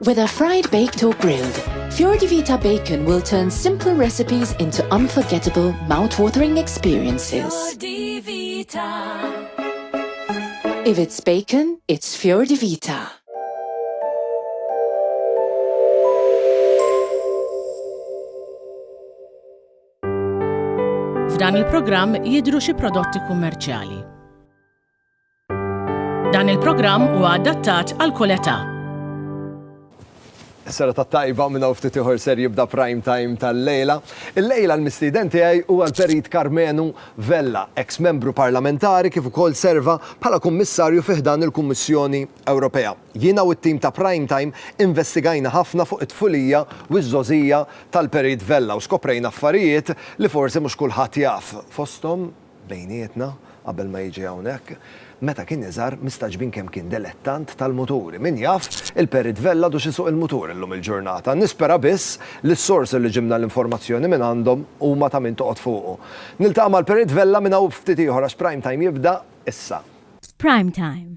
Whether fried, baked or grilled, Fiordi Vita Bacon will turn simple recipes into unforgettable, mouth-watering experiences. Fiordi Vita. If it's bacon, it's Fiordi Vita. F'dan il-programm jidhru xi prodotti kummerċjali. Dan il-programm huwa adattat għal kull età. Sera ta' tajba minn hawn ftit ieħor ser jibda prime time tal-lejla. Il-lejla l-mistieden tiegħi huwa l-Perit Karmenu Vella, eks membru parlamentari kif ukoll serva bħala kummissarju fi ħdan il-Kummissjoni Ewropea. Jiena u t-tim ta' prime time investigajna ħafna fuq it-tfulija u ż-żgħożija tal-Perit Vella u skoprejna affarijiet li forsi mhux kulħadd jaf, fosthom bejnietna, qabel ma jiġi hawnhekk, meta kien iżgħar, mistagħġbin kemm kien delettant tal-muturi. Min jaf, il-Perit Vella għadux isuq il-mutur illum il-ġurnata. Nispera biss li s-source li ġibna l-informazzjoni minn għandhom huma ta' min toqgħod fuqu. Niltaqa' mal-Perit Vella minn hawn u b'ftit ieħor għax Prime Time jibda issa. Prime Time,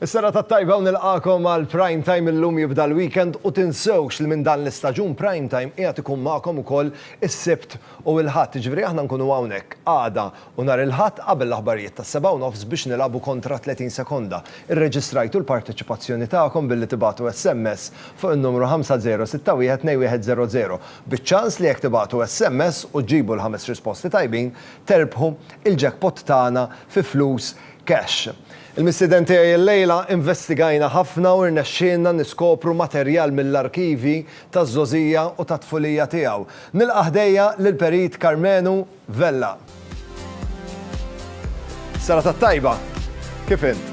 Is-serata t-tajba u nilqagħkom għal Prime Time illum jibda l-weekend u tinsewx li minn dan l-istaġun Prime Time qiegħed ikun magħkom ukoll is-Sibt u l-Ħadd, jiġifieri aħna nkunu hawnhekk għada u nhar il-Ħadd qabel l-aħbarijiet tas-sebgħa u nofs biex nilagħbu kontra 30 sekonda. Irreġistrajtu l-parteċipazzjoni tagħkom billi tibagħtu SMS fuq in-numru 5061-2100 biċ-ċans li jekk tibagħtu SMS u ġġibu l-ħames risposti tajbin terbħu il-jackpot tagħna fi flus Cash. Il-mistieden tiegħi illejla, investigajna ħafna u rnexxielna niskopru materjal mill-arkivji taż-żgħożija u tat-tfulija tiegħu. Nilqa' ħdejja lill-Perit Karmenu Vella. Serata t-tajba! Kif int?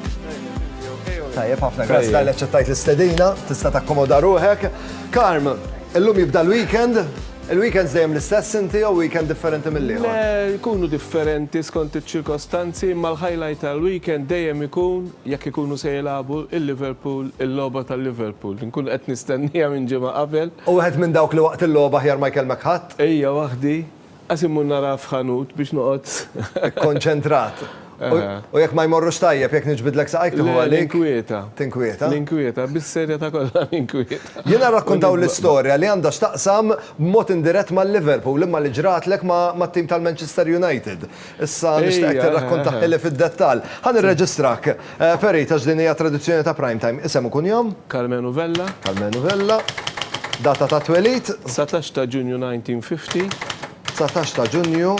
Tajjeb ħafna, grazzi talli aċċettajt l-istedina, tista' takkomoda ruħek. Karm, illum jibda l-weekend. Il-weekends dejjem l-istess inti jew weekend differenti mill-ieħor? Le, jkunu differenti skont iċ-ċirkostanzi imma l-highlight tal-weekend dejjem ikun jekk ikunu se jilagħbu l-Liverpool, il-logħba tal-Liverpool. Inkun qed nistennieha minn ġimgħa qabel. U wieħed minn dawk li waqt il-logħba aħjar ma jkellmek ħadd? Ejja waħdi, qas immur naraha f'ħanut biex noqgħod. Ikkonċentrat. U jekk ma jmorrux tajjeb, jekk niġbidlek saqajk tieħu għalik. Tinkwieta. Tinkwieta. Tinkwieta, bis-serja ta' kollha tinkwieta. Jiena rrakkontaw l-istorja li għandha x'taqsam b'mod indirett mal-Liverpool imma li ġratlek mat-tim tal-Manchester United. Issa nixtieqek tirrakkontaha li fid-dettall. Ħa nirreġistrak. Ferit, għax din hija tradizzjoni ta' Prime Time. Isem u kunjom? Karmenu Vella. Karmenu Vella. Data ta' twelid? 19 ta' Ġunju 1950. Dsatax ta' Ġunju,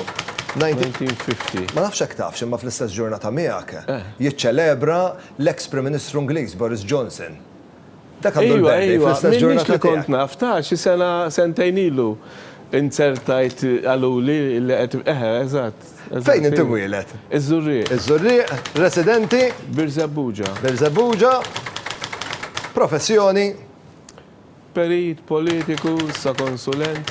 1950. Ma nafx jekk tafx imma fl-istess ġurnata miegħek jiċċelebra l-eks Prim Ministru Ingliż Boris Johnson. Dak għandu l-birthday fl-istess ġurnata tiegħek. Ejwa, ejwa, m'iniex li kont naf, ta' xi sena, sentejn ilu inzertajt qaluli li qed, eħe, eżatt. Fejn int imwieled? Iż-Żurrieq. Iż-Żurrieq, residenti? Birżebbuġa. Birżebbuġa. Professjoni? Perit, politiku, sa konsulent,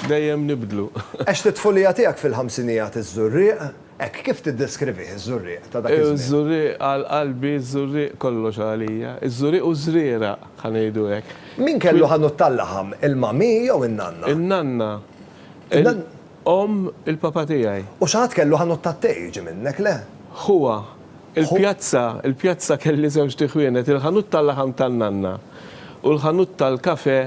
dejjem nibdlu. Għext it-tfulija tiegħek fil-ħamsinijat iż-Żurrieq, hekk kif tiddeskrivih iż-Żurrieq ta' dak iż-żmien? Iż-Żurrieq għal qalbi, iż-Żurrieq kollox għalija. Iż-Żurrieq u ż-Żrieraq, ħa ngħidu hekk. Min kellu ħanut tal-laħam, il-mami jew in-nanna? In-nanna. Omm il-papa tiegħi. U xi ħadd kellu ħanut tat-te jiġi minnek, le? Ħuha. Il-pjazza, il-pjazza kelli żewġt iħwienet, il-ħanut tal-laħam tan-nanna u l-ħanut tal-kafè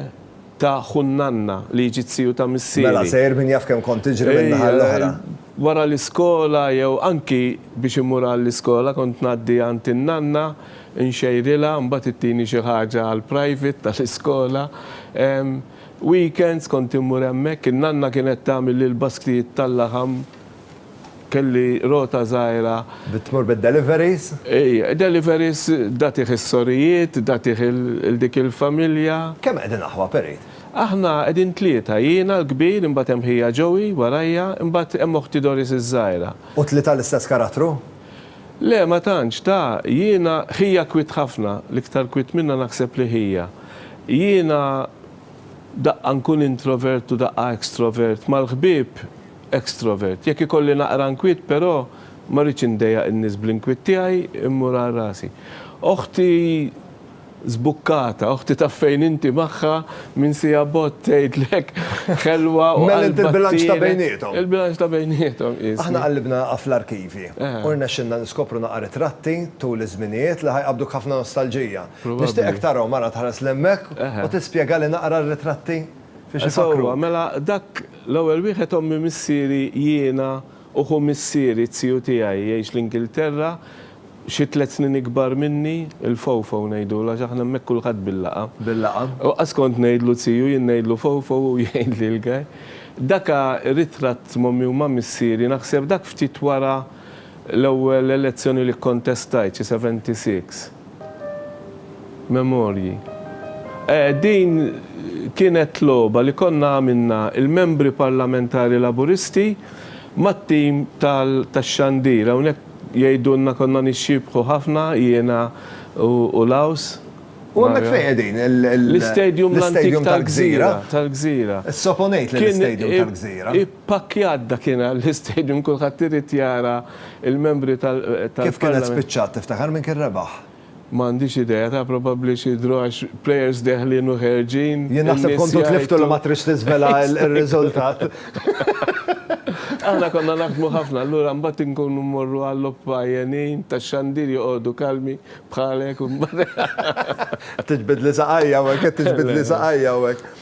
ta' ħu n-nanna li jiġi t-siju ta' missieri. Mela sejr min jaf kemm kont tiġri min-naħa l-oħra. Wara l-iskola jew anki biex immur għall-iskola kont ngħaddi għand in-nanna nxejrilha mbagħad ittini xi ħaġa għall-private tal-iskola. Weekends kont immur hemmhekk, in-nanna kienet tagħmel li l-basktijiet tal-laħam, kelli rota żgħira. Tmur bid-deliveries? Ejja, deliveries, tagħtih is-sorijiet, tagħtih 'il dik il-familja. Kemm qegħdin aħwa, Perit? Aħna qegħdin tlieta, jiena l-kbir, imbagħad hemm ħija Joey warajja, imbagħad hemm oħti Doris iż-żgħira. U t-tlieta l-istess karattru? Le ma tantx, ta, jiena, ħija kwiet ħafna, l-iktar kwiet minnha naħseb li ħija. Jiena daqqa nkun introvert u daqqa extrovert, mal-ħbieb extrovert. Jekk ikolli naqra nkwiet però ma rridx indejjaq in-nies bl-inkwiet tiegħi immur għal rasi. Oħti. Żbukkata, oħti taf fejn inti magħha, minn siegħa bogħod tgħidlek ħelwa u qalbha ttieled. Mela inti l-bilanċ ta' bejniethom. Il-bilanċ ta' bejniethom qisni. Aħna qallibna fl-arkivji u rnexxielna niskopru naqa' ritratti tul iż-żminijiet li ħa jqabbduk ħafna nostalġija. Nixtieqek tarahom ara tħares 'l hemmhekk u tispjegali naqra r-ritratti fiex ifakkru. Sewwa, mela dak l-ewwel wieħed ommi missieri jiena. U ħu missieri, t-tiju tiegħi, jgħix l-Ingilterra, xi tliet snin ikbar minni, il-Fofo ngħidulu għax aħna hemmhekk kulħadd bil-laqgħa. Bil-laqgħa. U qass kont ngħidlu tiju, jien ngħidlu Fofo u hu jgħidli l-gaj. Daka ritratt m'ommi u ma' missieri, naħseb dak ftit wara l-ewwel elezzjoni li kkontestajt, xi seventy six. Memorji. Eeh, din kienet logħba li konna għamilna il-Membri Parlamentari Laburisti mat-tim tax-xandir. Hawnhekk jgħidulna konna nixxiebħu ħafna jiena u Laws. U hemmhekk fejn qegħdin? L-istadium l-antik tal-Gżira. Tal-Gżira. Is-Sopo Ngħid li l-istadium tal-Gżira. Kien ippakkjat dakinhar l-istadium kulħadd irid jara. Il-membri tal-Parlament. Kif kienet spiċċat tiftakar min kien rebaħ? M'għandix idea, taf probabbli xi draw għax players deħlin u ħerġin. Jien naħseb kontu tliftu li ma tridx tiżvela r-riżultat. Aħna konna naħdmu ħafna, allura mbagħad inkunu mmorru għal-logħob għajjenin tax-xandir joqogħdu kalmi bħalek u mbagħad. Qed tiġbidli saqajja hawnhekk, qed tiġbidli saqajja hawnhekk.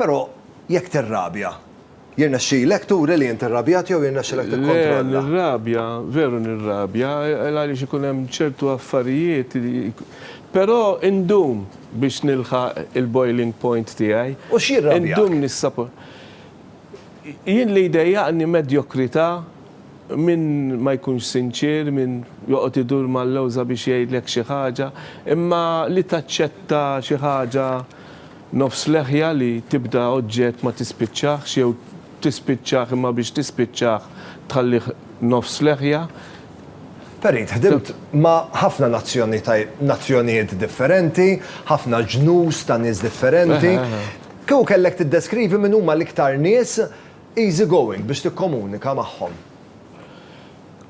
Però jekk tirrabja, jirnexxilek turi li int irrabjat jew jirnexxilek tikkontrolla? Le, nirrabja, veru nirrabja, għaliex ikun hemm ċertu affarijiet li, però indum biex nilħaq il-boiling point tiegħi. U x'jirrabjak? Indum nissapor. Jien li jdejjaqni medjokrità, min ma jkunx sinċier, min joqgħod idur mal-lewża biex jgħidlek xi ħaġa, imma li taċċetta xi ħaġa, Nofs leħja li tibda oġġett ma tispiċċahx jew tispiċċah imma biex tispiċċah tħallih nofs leħja. Perit, ħdimt ma' ħafna nazzjonijiet differenti, ħafna ġnus ta' nies differenti. Kieku kellek tiddeskrivi min huma l-iktar nies easy going biex tikkomunika magħhom?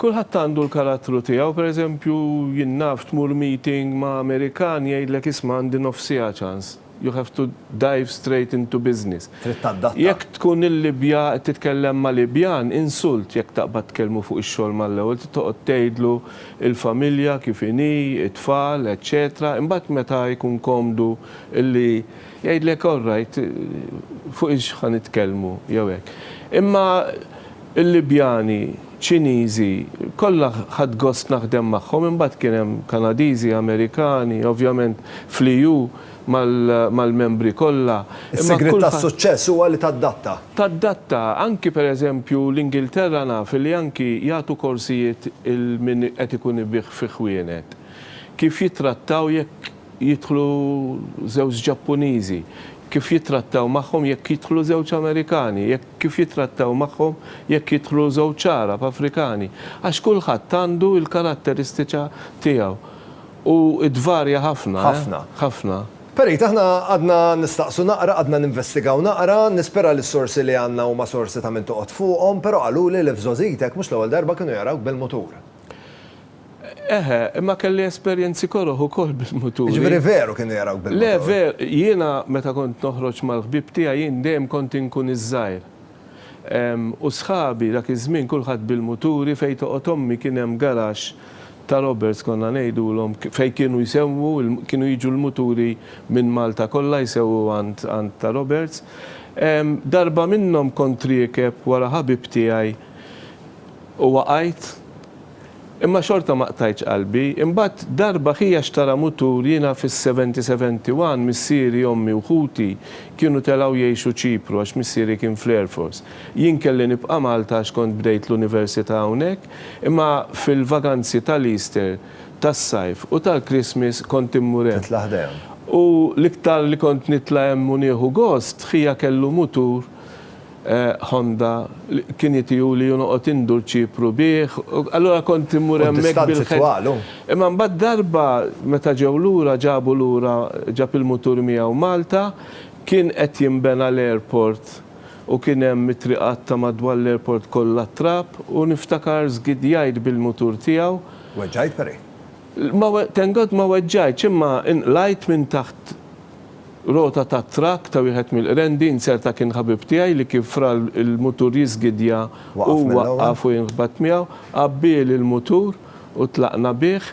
Kulħadd għandu l-karattru tiegħu, per eżempju jien naf tmur meeting ma' Amerikan jgħidlek isma' għandi nofs siegħa ċans, you have to dive straight into business. Trid tadatta. Jekk tkun il-Libja qed titkellem ma' Libjan, insult jekk taqbad tkellmu fuq ix-xogħol mal-ewwel, trid toqgħod tgħidlu il-familja kif inhi, it-tfal, eċċetera, imbagħad meta jkun komdu li Jgħidlek all right, fuq ix ħa nitkellmu jew hekk. Imma l-Libjani, Ċiniżi, kollha ħadt gost naħdem magħhom, imbagħad kien hemm Kanadiżi, Amerikani, ovvjament fl-EU mal-membri kollha. Is-sigriet tas-suċċess huwa li tadatta. Tadatta, anki pereżempju l-Ingilterra naf li anki jagħtu korsijiet lil min qed ikun ibigħ fi ħwienet, kif jittrattaw jekk jidħlu żewġ Ġappuniżi, kif jittrattaw magħhom jekk jidħlu żewġ Amerikani, jekk kif jittrattaw magħhom jekk jidħlu żewġ Għarab, Afrikani, għax kulħadd għandu l-karatteristiċa tiegħu. U tvarja ħafna, eh. Ħafna. Ħafna. Perit, aħna għadna nistaqsu naqra, għadna ninvestigaw naqra, nispera li s-sorsi li għandna huma sorsi ta' min toqgħod fuqhom, però qaluli li f'żgħożitek mhux l-ewwel darba kienu jarawk bil-mutur. Eħe, imma kelli esperjenzi koroh ukoll bil-muturi. Jiġifieri veru kienu jarawk bil-mutur? Le, ver, jiena meta kont noħroġ mal-ħbieb tiegħi jien dejjem kont inkun iż-żgħir. U sħabi dak iż-żmien kulħadd bil-muturi, fejn toqgħod ommi kien hemm garaxx ta' robbers konna ngħidulhom, fejn kienu jsewwu, kienu jiġu l-muturi minn Malta kollha jsewwu għand għand ta' robbers. Darba minnhom kont riekeb wara ħabib tiegħi u waqajt. Imma xorta ma qtajtx qalbi. Imbagħad darba ħija xtara mutur jiena fis-seventy seventy one missieri, ommi u ħuti kienu telgħu jgħixu Ċipru għax missieri kien fl-Air Force. Jien kelli nibqa' Malta għax kont bdejt l-università hawnhekk imma fil-vaganzi tal-Easter, tas-Sajf u tal-Christmas kont immur hemm. Titla' ħdejhom. U l-iktar li kont nitla' hemm u nieħu gost, ħija kellu mutur Honda, kien jitiuli u noqgħod indur Ċipru bih, allura kont immur hemmhekk bil-ħelm. Imma mbagħad darba meta ġew lura ġabu lura ġab il-mutur miegħu Malta, kien qed jinbena l-airport u kien hemm it-triqat ta' madwar l-airport kollha t-trab u niftakar żgidjajt bil-mutur tiegħu. Weġġajt, Perry? Thank God ma weġġajtx imma inqlajt minn taħt. Rota tat-trakk ta' wieħed mill-qrendi inzerta kien ħabib tiegħi li kif ra l-mutur jiżgidja hu waqqaf u jien ħbatt miegħu. Għabbieli l-mutur u tlaqna bih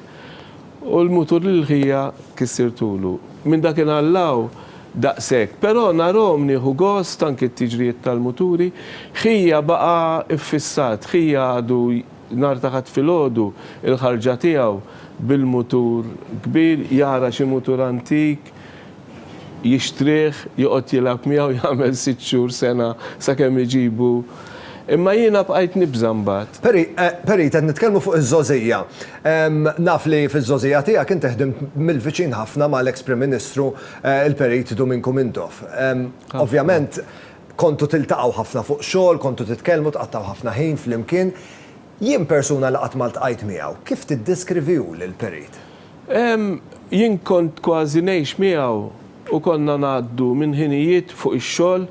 u l-mutur lill-ħija kissirtulu. Minn dakinhar 'l hawn daqshekk. Però narhom nieħu gost anki t-tiġrijiet tal-muturi. Ħija baqa' ffissat, ħija għadu Nhar ta' Ħadd filgħodu, il-ħarġa tiegħu bil-mutur kbir, jara xi mutur antik, jixtrih, joqgħod jilgħab miegħu, jagħmel sitt xhur, sena, sakemm iġibu. Imma jiena bqajt nibża' mbagħad. Peri, Perit, qed nitkellmu fuq iż-żgħożija. Naf li fiż-żgħożija tiegħek inti ħdimt mill-viċin ħafna mal-eks Prim Ministru, il-Perit Duminku Mintoff. Ovvjament, Kontu tiltaqgħu ħafna fuq xogħol, kontu titkellmu, tqattgħu ħafna ħin flimkien. Jien persuna li qatt ma ltqajt miegħu, kif tiddeskrivi hu lil Perit? Jien kont kważi ngħix miegħu u konna ngħaddu minn ħinijiet fuq ix-xogħol,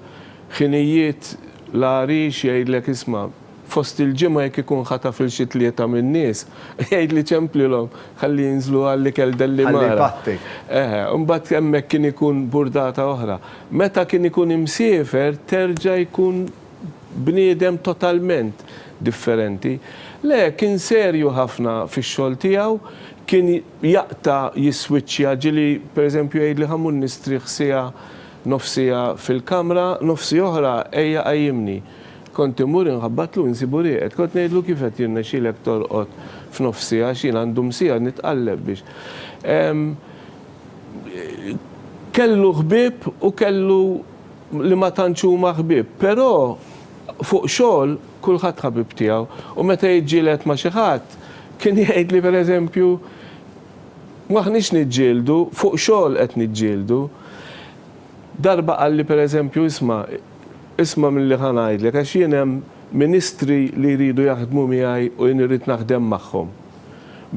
ħinijiet l-għarix jgħidlek isma' fost il-ġimgħa jekk ikun ħataf 'il xi tlieta min-nies, jgħidli ċemplilhom ħalli jinżlu għall-ikel Dellimara. Ħalli jpatti. Eħe, imbagħad hemmhekk kien ikun burdata oħra. Meta kien ikun imsiefer terġa' jkun bniedem totalment differenti. Le, kien serju ħafna fix-xogħol tiegħu, kien jaqta' jiswiċċja, ġieli pereżempju jgħidli ħa mmur nistrieħ siegħa, nofs siegħa fil-kamra, nofsi oħra ejja qajjimni. Kont immur inħabbatlu u nsibu rieqed. Kont ngħidlu kif qed jirnexxilek torqod f'nofsi għax jien għandum siegħa nitqalleb biex ehm Kellu ħbieb u kellu li ma tantx huma ħbieb, però fuq xogħol kulħadd ħabib tiegħu u meta jiġġieled ma' xi ħadd kien jgħidli per eżempju M'aħniex niġġieldu, fuq xogħol qed niġġieldu. Darba qalli per eżempju Isma', Isma' milli ħa ngħidlek, għax jien hemm ministri li jridu jaħdmu miegħi u jien irrid naħdem magħhom.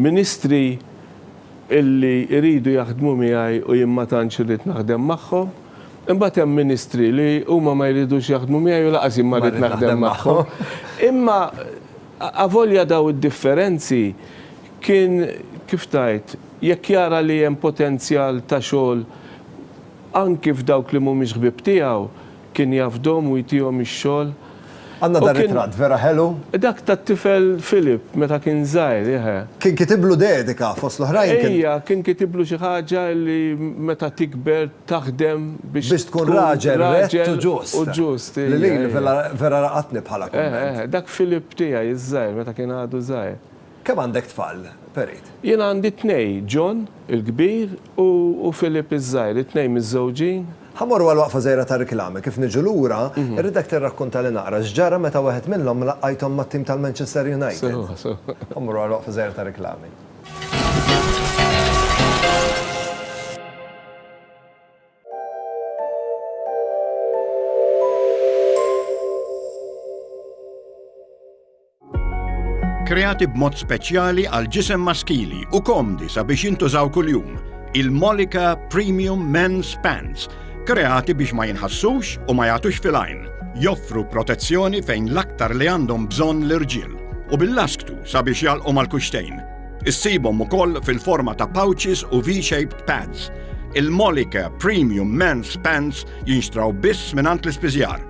Ministri illi jridu jaħdmu miegħi u jien ma tantx irrid naħdem magħhom. Imbagħad hemm ministri li huma ma jridux jaħdmu miegħi u lanqas jien ma rrid naħdem magħhom. Imma avolja dawn id-differenzi, kien, kif tgħid, jekk jara li hemm potenzjal ta' xogħol, Anki f'dawk li mhumiex ħbieb tiegħu, kien jafdhom u jtihom ix-xogħol. Għandna dan ritratt vera ħelu. Dak tat-tifel Philip meta kien żgħir, eħe. Kien kitiblu dedika, fost l-oħrajn kien. Ejja, kien kitiblu xi ħaġa li meta tikber taħdem biex. Biex tkun raġel rett u ġust. U ġust, ejja. Lili vera laqatni bħala kumment. Eħe, eħe, dak Philip tiegħi ż-żgħir meta kien għadu żgħir. Kemm għandek tfal, Perit? Jien għandi tnej, John, il-kbir, u Philip, iż-żgħir, it-tnejn miżżewġin. Ħa mmorru għal waqfa żgħira ta' riklami. Kif niġu lura, irridek tirrakkuntali naqra x'ġara meta wieħed minnhom laqqajthom mat-tim tal-Manchester United. Sewa, sewa. Ħa mmorru għal waqfa żgħira ta' riklami. Kreati b'mod speċjali għal ġisem maskili u komdi sabiex jintużaw kuljum, il-Molika Premium Men's Pants, kreati biex ma jinħassux u ma jagħtux filajn, joffru protezzjoni fejn l-aktar li għandhom bżonn l-irġiel u bil-lasktu sabiex jalqu mal-kuxtejn. Issibhom ukoll fil-forma ta' pouches u V-shaped pads. Il-Molika Premium Men's Pants jinxtraw biss mingħand l-ispiżjar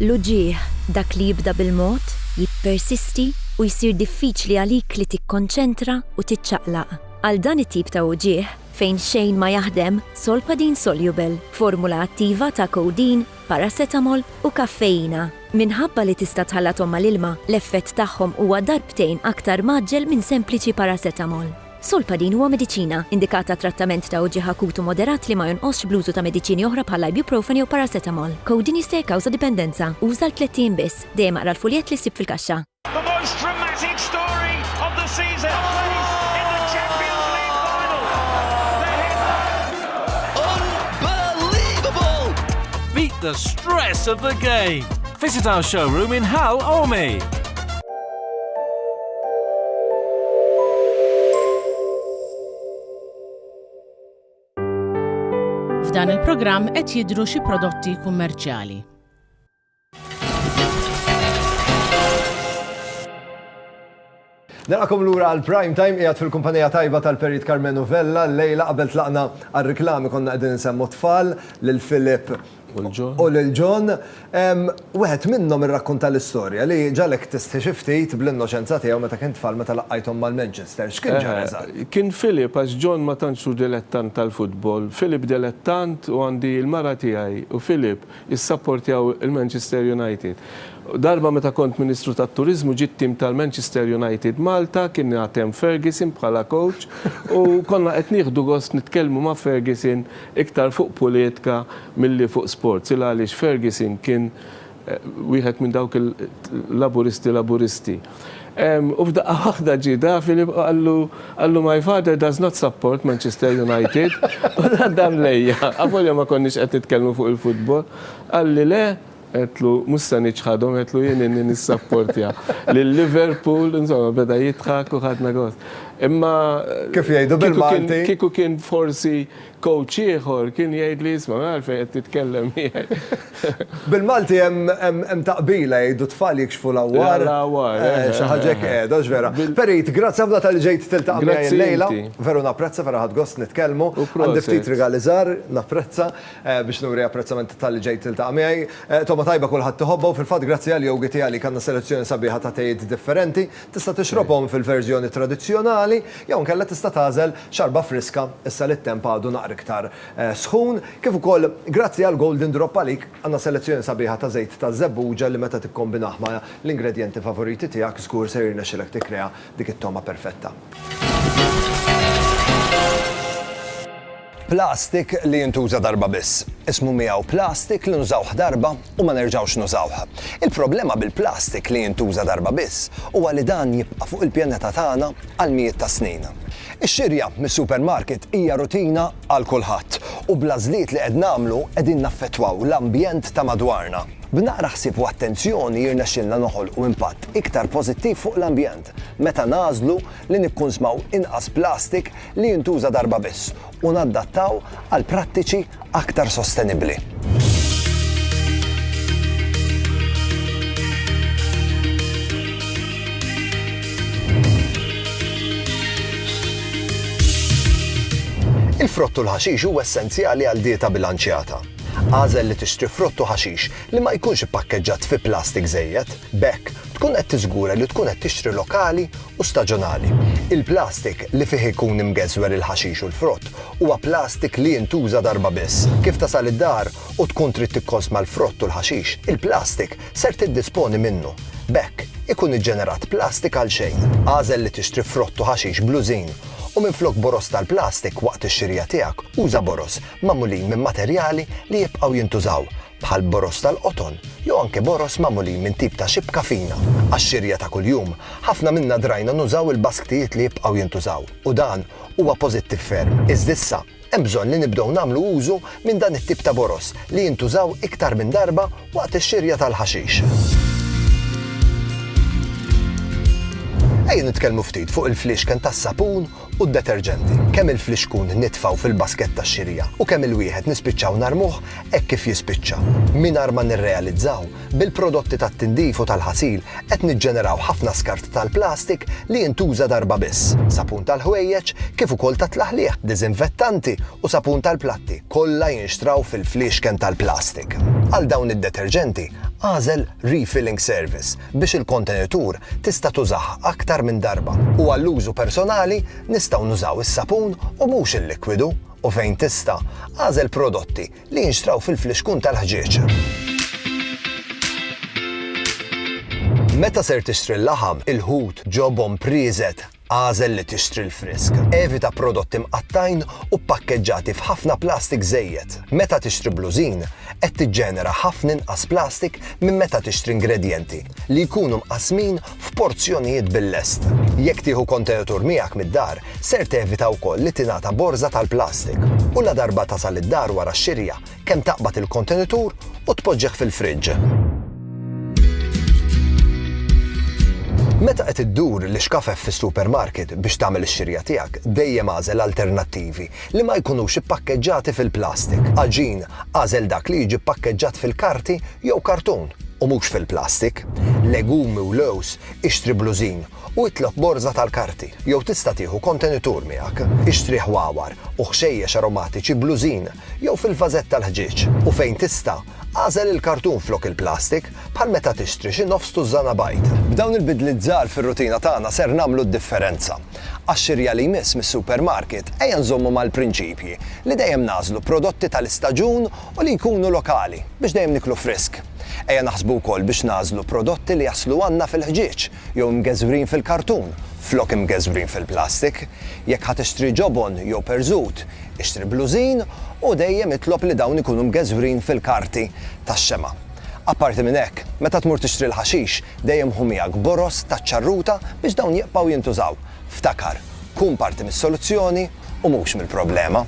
L-uġigħ, dak li jibda bil-mod, jippersisti u jsir diffiċli għalik li tikkonċentra u tiċċaqlaq. Għal dan it-tip ta' uġigħ fejn xejn ma jaħdem, Solpadeine Soluble, formula attiva ta' codeine, paracetamol u kaffeina. Minħabba li tista' tħallathom mal-ilma, l-effett tagħhom huwa darbtejn aktar mgħaġġel minn sempliċi paracetamol. Solpadeine huwa mediċina, indikat għat-trattament ta' uġigħ akut u moderat li ma jonqosx bl-użu ta' mediċini oħra bħall-ibuprofen jew paracetamol. Codeine jista' jikkawża dipendenza. Uża għal tlett ijiem biss. Dejjem aqra l-fuljett li ssib fil-kaxxa. Beat the stress of the game. Visit our showroom in Hal Ormi. F'dan il-programm qed jidhru xi prodotti kummerċjali. Narakom lura għal prime time qiegħed fil-kumpanija tajba tal-Perit Carmenu Vella lejla qabel tlaqna għal riklami konna qegħdin insemmu tfal lil Filip u lil John, wieħed minnhom irrakkunta l-istorja li ġagħlek tistħi xi ftit bl-innoċenza tiegħu meta kien tfal meta laqqajthom mal-Manchester. X'kien ġara eżatt? Kien Philip għax John ma tantx hu dilettant tal-futbol. Philip dilettant u għandi l-mara tiegħi u Philip issapportjaw il-Manchester United. Darba meta kont Ministru tat-Turiżmu ġie t-tim tal-Manchester United Malta, kien għad hemm Ferguson bħala coach u konna qed nieħdu gost nitkellmu ma' Ferguson Iktar fuq pulitka milli fuq sports, il għaliex Ferguson kien wieħed minn dawk il-Laburisti Laburisti. U f'daqqa waħda ġie Da Filippo qallu, qallu my father does not support Manchester United, u dan lejja, avolja ma konniex qed nitkellmu fuq il-futbol, qalli le, Għedtlu, mhux se niċħadhom, għedtlu jien inni nissapportja lil Liverpool, insomma beda jidħak u ħadna gost. Imma Kif jgħidu bil-Malti? Kieku kien forsi coach ieħor kien jgħid li isma' għalfejn qed titkellem miegħi. Bil-Malti hemm taqbila jgħidu tfal jikxfu l-għawwar. L-għawwar. Xi ħaġa hekk qiegħda, hux vera. Perit, grazzi ħafna tal-li ġejt tiltaqa' miegħi llejla. Veru napprezza, veru ħadt gost nitkellmu. Għandi ftit rigali żgħar, napprezza. biex nuri apprezzament talli ġejt tiltaqa' miegħi. Togħma tajba kulħadd iħobbha u fil-fatt grazzi għal Yogi Tea għalik għandna selezzjoni sabiħa ta' tejiet differenti. Tista' tixrobhom fil-verżjoni tradizzjonali jew inkella tista' tagħżel xarba friska issa li t-temp għadu naqra iktar sħun. Kif ukoll grazzi għal Golden Drop għalik għandna selezzjoni sabiħa ta' żejt taż-żebbuġa li meta tikkombinah ma' l-ingredjenti favoriti tiegħek żgur ser jirnexxilek tikkrea dik it-togħma perfetta. Plastik li jintuża darba biss. Ismu miegħu plastik li nużawh darba u ma nerġgħux nużawh. Il-problema bil-plastik li jintuża darba biss huwa li dan jibqa' fuq il-pjaneta tagħna għal mijiet ta' snin. Ix-xirja mis-supermarket hija rutina għal kulħadd, u bl-għażliet li qed nagħmlu qegħdin naffettwaw l-ambjent ta' madwarna. B'naqra ħsieb u attenzjoni jirnexxilna noħolqu impatt iktar pożittiv fuq l-ambjent meta nagħżlu li nikkunsmaw inqas plastik li jintuża darba biss u nadattaw għal prattiċi aktar sostenibbli. Il-frott u l-ħaxix huwa essenzjali għal dieta bilanċjata. Agħżel li tixtri frott u ħaxix li ma jkunx ippakkeġġat fi plastik żejjed, b'hekk tkun qed tiżgura li tkun qed tixtri lokali u staġunali. Il-plastik li fih ikun imgeżwer il-ħaxix u l-frott huwa plastik li jintuża darba biss. Kif tasal id-dar u tkun trid tikkonsma l-frott u l-ħaxix, il-plastik ser tiddisponi minnu. B'hekk, ikun iġġenerat plastik għal xejn. Agħżel li tixtri frott u ħaxix bl-użin u minflok boroż tal-plastik waqt ix-xirja tiegħek, uża boroż magħmulin minn materjali li jibqgħu jintużaw, bħal boroż tal-qoton jew anke boroż magħmulin minn tip ta' xibka fina. Għax-xirja ta' kuljum, ħafna minna drajna nużaw il-basktijiet li jibqgħu jintużaw u dan huwa pożittiv ferm. Iżda issa, hemm bżonn li nibdew nagħmlu użu minn dan it-tip ta' boroż li jintużaw iktar minn darba waqt ix-xirja tal-ħaxix. Ejja nitkellmu ftit fuq il-fliexken tas-sapun u d-deterġenti, kemm il-flixkun nitfgħu fil-basket tax-xirija u kemm il-wieħed nispiċċaw narmuh hekk kif jispiċċa. Mingħajr ma nirrealizzaw, bil-prodotti tat-tindif u tal-ħasil qed niġġeneraw ħafna skart tal-plastik li jintuża darba biss, sapun tal-ħwejjeġ kif ukoll tat-tlaħliħ, diżinfettanti u sapun tal-platti kollha jinxtraw fil-fliexken tal-plastik. Għal dawn id-deterġenti, agħżel Refilling Service biex il-kontenitur tista' tużah aktar minn darba u għall-użu personali nistgħu nużaw is-sapun u mhux il-likwidu u fejn tista', agħżel prodotti li jinxtraw fil-flixkun tal-ħġieġ. Meta ser tixtri l-laħam, il-ħut, ġobon, prieżet, Agħżel li tixtri l-frisk. Evita prodotti mqattgħin u ppakkeġġati f'ħafna plastik żejjed. Meta tixtri blużin, qed tiġġenera ħafna inqas plastik minn meta tixtri ingredjenti li jkunu mqassmin f'porzjonijiet bil-lest. Jekk tieħu kontenitur miegħek mid-dar, ser tevita wkoll li tingħata borża tal-plastik u ladarba tasal id-dar wara x-xirja, kemm taqbad il-kontenitur u tpoġġih fil-friġġ. Meta qed iddur l-ixkafef fis-supermarket biex tagħmel ix-xirja tiegħek, dejjem agħżel alternattivi li ma jkunux ippakkeġġati fil-plastik. Għaġin, agħżel dak li jiġi ppakkeġġat fil-karti jew kartun u mhux fil-plastik. Legumi u lows ixtri blużin u itlob borża tal-karti jew tista' tieħu kontenitur miegħek. Ixtri ħwawar u ħxejjex aromatiċi blużin jew fil-vażett tal-ħġieġ u fejn tista', agħżel il-kartun flok il-plastik, bħal meta tixtri xi nofs tużżana bajd. B'dawn il-bidliet żgħar fir-rutina tagħna ser nagħmlu d-differenza. Għax-xirja li jmiss mis-supermarket ejja nżommu mal-prinċipji li dejjem nagħżlu prodotti tal-istaġun u li jkunu lokali biex dejjem niklu frisk. Ejja naħsbu wkoll biex nagħżlu prodotti li jaslu għandna fil-ħġieġ jew imgeżwrin fil-kartun flok imgeżwrin fil-plastik. Jekk ħa tixtri ġobon jew perżut, ixtri blużin u dejjem itlob li dawn ikunu mgeżwrin fil-karti tax-xemgħa. Apparti minn hekk, meta tmur tixtri l-ħaxix, dejjem ħu miegħek boroż taċ-ċarruta biex dawn jibqgħu jintużaw. Ftakar, kun parti mis-soluzzjoni u mhux mill-problema.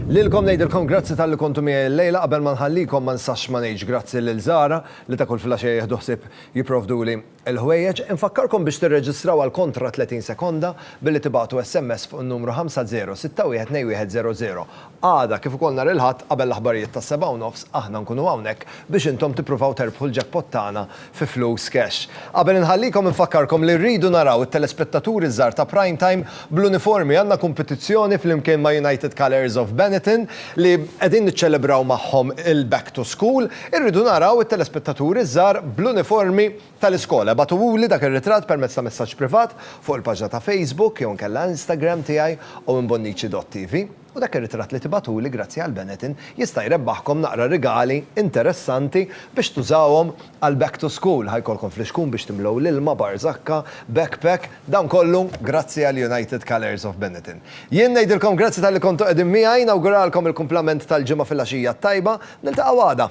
Lilkom ngħidilkom grazzi talli kontu miegħi llejla qabel ma nħallikom ma nsax ma ngħidx grazzi lil Zara li ta' kull filgħaxija jieħdu ħsieb jipprovduli l-ħwejjeġ. Infakkarkom biex tirreġistraw għal kontra 30 sekonda billi tibagħtu SMS fuq in-numru 50612100. Għada, kif ukoll nhar il-Ħadd, qabel l-aħbarijiet tas-sebgħa u nofs, aħna nkunu hawnhekk biex intom tippruvaw terbħu l-jackpot tagħna fi flus cash. Qabel inħallikom infakkarkom li rridu naraw it-telespettaturi żgħar ta' Prime Time bl-uniformi. Għandna kumpitizzjoni flimkien ma' United Colours of Benetton li qegħdin niċċelebraw magħhom il-Back to School. Irridu naraw it-telespettaturi żgħar bl-uniformi. tal-iskola. Ibagħtuhuli dak ir-ritratt permezz ta' messaġġ privat fuq il-paġna ta' Facebook jew inkella Instagram tiegħi owenbonnici.tv u dak ir-ritratt li tibagħtuli grazzi għal Benetton jista' jrebbaħkom naqra rigali interessanti biex tużawhom għal back to school. Ħa jkollkom flixkun biex timlew l-ilma, barżakka, backpack, dan kollu grazzi għal United Colours of Benetton. Jien ngħidilkom grazzi talli kontu qegħdin miegħi, nawguralkom il-kumplament tal-Ġimgħa filgħaxija t-tajba. Niltaqgħu għada.